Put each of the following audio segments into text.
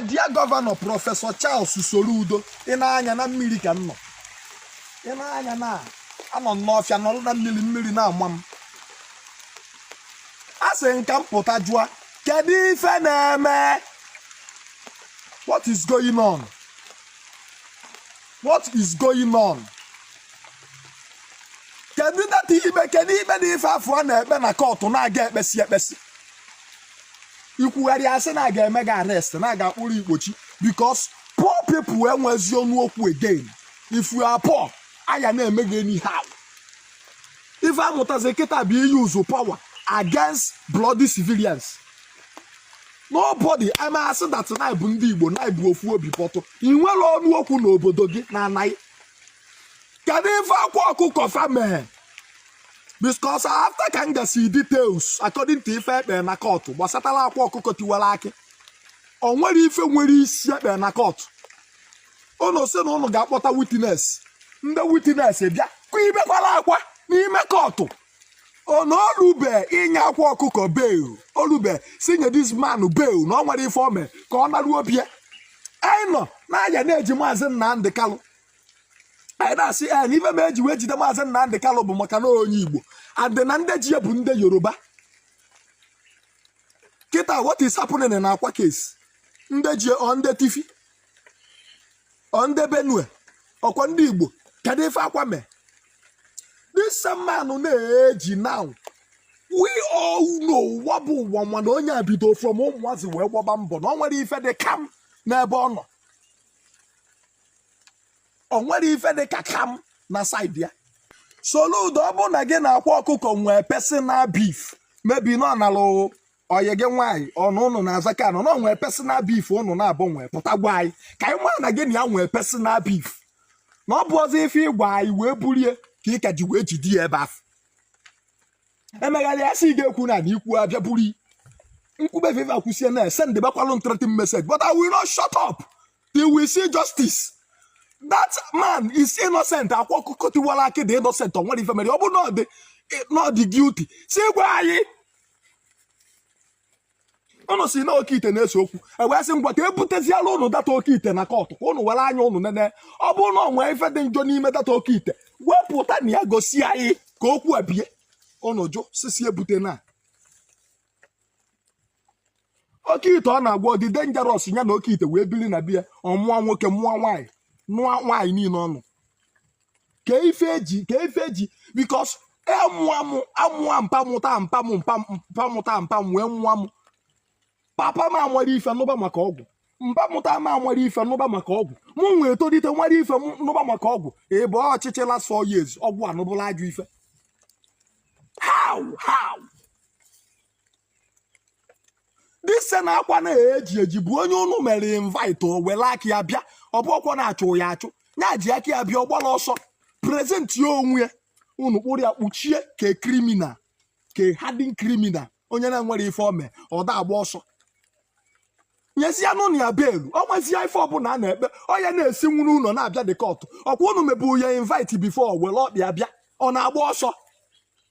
dear governor professor Charles Soludo ị na-anya na mmiri ka m nọ ị na-anya na anọ m n'ọfịa nọrọ na mmiri mmiri na-ama m a sị m ka m pụta jụa kedu ife na-eme what is going on what is going on kedu that ikpe kedu ikpe na ife afụ a na-ekpe na kọtụ na-aga ekpesi ekpesi i kwugharịa a sị na a ga-eme gị arrest na a ga-akpụrụ ị kpọchie because poor people enwezi ọnụ okwu again if you are poor a ya na-eme gị anyhow ife a mụtazi kịta bụ ị use power against bloody civilians nobody e mee a sị that na bụ ndị Igbo na-abụ ofu obi but ị nwerọ ọnụ okwu n'obodo gị na ana gị kedu ife akwa ọkụkọ fa mee because after ka m gasị details according to ife e kpere na kọtụ gbasatara akwa ọkụkọ tiwara akị o nwerọ ife nwere isi e kpere na kọtụ ụnụ sị na ụnụ ga-akpọta witness ndị witness bịa kụ i bekwara akwa n'ime kọtụ na o lube inye akwa ọkụkọ bail o lube sị nye this man bail na o nwerọ ife o me ka ọ naruo be ya anyị nọ n'anya na e ji maazị Nnamdi Kalụ anyị na-asị ya na ife mee e ji wee jide maazị Nnamdị Kalụ bụ maka na onye Igbo and na ndị ji ya bụ ndị Yoruba kịta what is happening na akwa case ndị ji ya ọ ndị Tiv ọ ndị Benue ọ kwa ndị Igbo kedu ife akwa mee this man na e ji now we all know ụwa bụ ụwa ma na onye a bido from ụmụazị wee gbaba mbọ na o nwerọ ife dị kam n'ebe ọ nọ o nwerọ ife dị ka kam na side ya Soludo ọ bụrụ na gị na akwa ọkụkọ nwee personal beef maybe na ọ nalụ ọyị gị nwaanyị or ụnụ na-azọkọ ana na ọ nwee personal beef ụnụ naabọ nwee pụta gwa anyị ka anyị mara na gị na ya nwee personal beef na ọ bụrọzị ife ị gwa anyị wee bulie ka ị ka ji wee jide ya ebe afụ e megharịa a sị gị ekwuna na i kwuo a bịa buru m kwube ife a kwusie na sendibakwalụ m threatening message but I will not shut up till we see justice that man is innocent akwa ọkụkọ tiwara akị dị innocent o nwerọ ife o mere ọ bụ na ọ dị guilty si gwa anyị ụnụ sị na oke ite na-ese okwu e wee sị ngwa ka e buteziela ụnụ that oke ite na kọtụ ka ụnụ were anya ụnụ nene ọ bụrụ na o nwee ife dị njọ n'ime that oke ite wepụta nya gosi anyị ka okwu a bie ụnụ jụ sị sị ebutena oke ite ọ na ọgwụ a dị dangerous ya na oke ite wee biri na be ya ọ mụọ nwoke mụọ nwaanyị nụọ nwaanyị niile ọnụ kee ife eji kee ife eji because amụa m amụa mpa mụta mpa m mpa mpa mụta mpa m wee mụa m papa m amara ife nụba maka ọgwụ mpa mụta m amara ife nụba maka ọgwụ mụ wee tolite mara ife nụba maka ọgwụ ebe ọchịchị last four years ọgwụ anụbụla ajọ ife how how dise na akwa na-eji eji bụ onye unu mere invite o were aka ya bịa ọ bụrọkwa na-achụ ya achụ ya ji aka ya bịa ọ gbara ọsọ present ya onwe ya unu kpụrụ ya kpọchie ka criminal ka hardened criminal onye na-enwere ife o me ọ da agba ọsọ nyezie nụ ya bail ọ nwezie ife ọbụla a na-ekpe ọ ya na-esi nwuru ụlọ na-abịa the court ọkwa unu mebu ya invite before were ọkpa ya bịa ọ na-agba ọsọ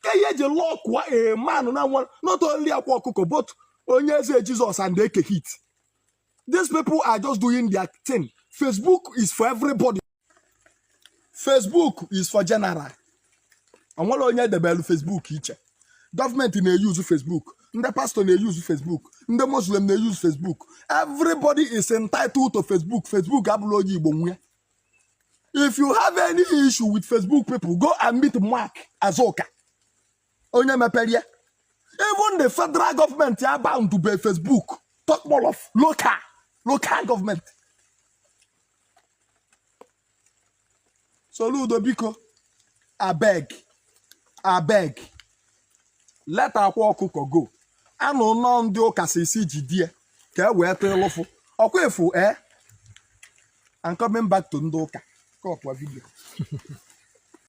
kee ihe eji lọkụọ ee man a nwa not only akwa ọkụkọ but onye eze Jesus and eke hit these people are just doing their thing facebook is for everybody Facebook is for general o nwerọ onye e debelu Facebook iche gọọmenti na-eyuzu Facebook ndị pastọ na-eyuzu Facebook ndị muslim na-eyuzu Facebook everybody is entitled to Facebook Facebook abụrọ onye Igbo nwe if you have any issue with Facebook people go and meet Mark Azuka onye mepere ya even the federal government a ban be facebook talk more of local local government soludo biko abeg abeg let akwa ọkụkọ go I know na ndị ụka si sị jide ya ka e wee tee lụfụ ọkwa efu eh I'm coming back to ndị ụka kọpụa video